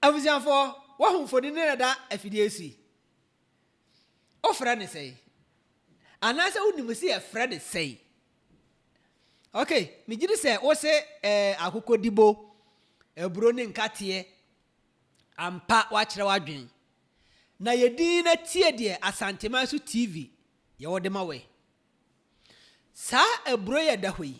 Abusuafo, wɔahu mfoni no na ɛda afidie so yi? Wofrɛ no sɛn? Anaasɛ wonim sɛ yɛfrɛ no sɛn? Ok, megye di sɛ wose eh, akokɔdibo, aburo ne nkateɛ. Ampa, woakyerɛ w'adwene. Na yɛ dinn na tie deɛ Asanteman so TV yɛwɔ de ma wo yi. Saa aburo yi a ɛda hɔ yi,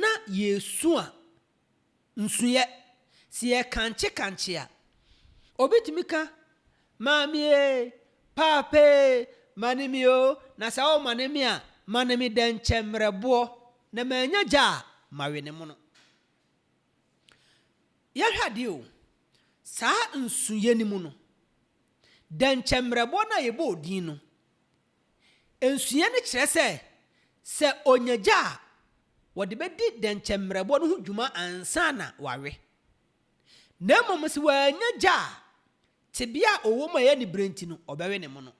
na yɛresua nsuiɛ, sɛ yɛrekankye kankye a, obi tumi ka, Maame e, Paapa e, mane me o, na sɛ womane me a, mane me dɛnkyɛmmerɛboɔ, na mannya gya a, mawe ne mono. Yɛhwɛ adeɛ o, saa nsuiɛ no mu no, dɛnkyɛmmerɛboɔ no a yɛbɔɔ din no, Nsuyɛ no kyerɛ sɛ, sɛ onya gya a, wɔde bedi dɛnkyɛmmerɛbɔ no ho dwuma ansa na wawe. Na mmom sɛ wannya gya a, tebea a ɔwom a ɛyɛ anibere nti no, ɔbɛwe ne mono.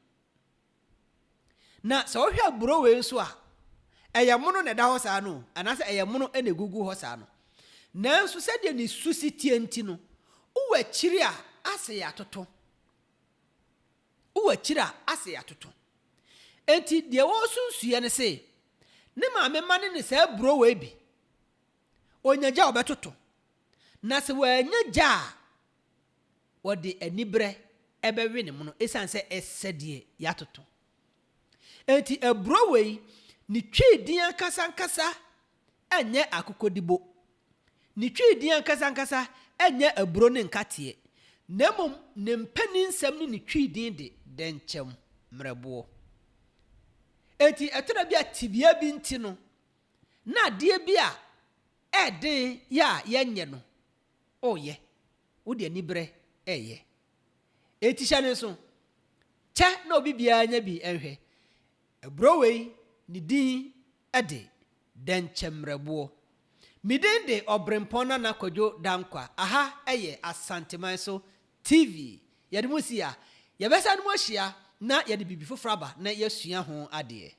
Na sɛ wohwɛ aburow wei nso a, ɛyɛ mono na ɛda hɔ saa no o, anaasɛ ɛyɛ mono na egugu hɔ saa no. Nanso sɛdeɛ ne su si teɛ nti no, wowɔ akyiri a, ase yɛ atoto. Wo akyiri a asɛe atoto. Enti deɛ ɔresunsuiɛ ne se ne maame mma no ne saa buro wei bi. Ɔnya gya a ɔbɛtoto. Na sɛ wannya gya a ɔde aniberɛ bɛwe ne mono ɛsiane sɛ ɛsɛ deɛ yɛatoto. Enti aburo wei ne twi din ankasa ankasa Ɛnyɛ akokɔdibo. Ne Twi din ankasa ankasa nyɛ Aburo ne Nkateɛ, na mmom ne mpaninsɛm ne ne Twi din de Dɛnkyɛm Mmerɛboɔ. Enti ɛtɔ da bi a tebea bi nti no, na adeɛ bi a ɛyɛ den yɛ a yɛnyɛ no, ɔreyɛ. Wode aniberɛ reyɛ. Enti hyɛ no nso. Kyɛ na obi biara nya bi nhwɛ. Aburo wei, ne din de, Dɛnkyɛmmerɛboɔ. Me din de Ɔberempɔn Nana Kwadwo Dankwa, aha yɛ Asanteman so TV. Yɛde mo si ha. Yɛbɛsane mu ahyia na yɛde biribi foforɔ aba na yɛasua ho adeɛ.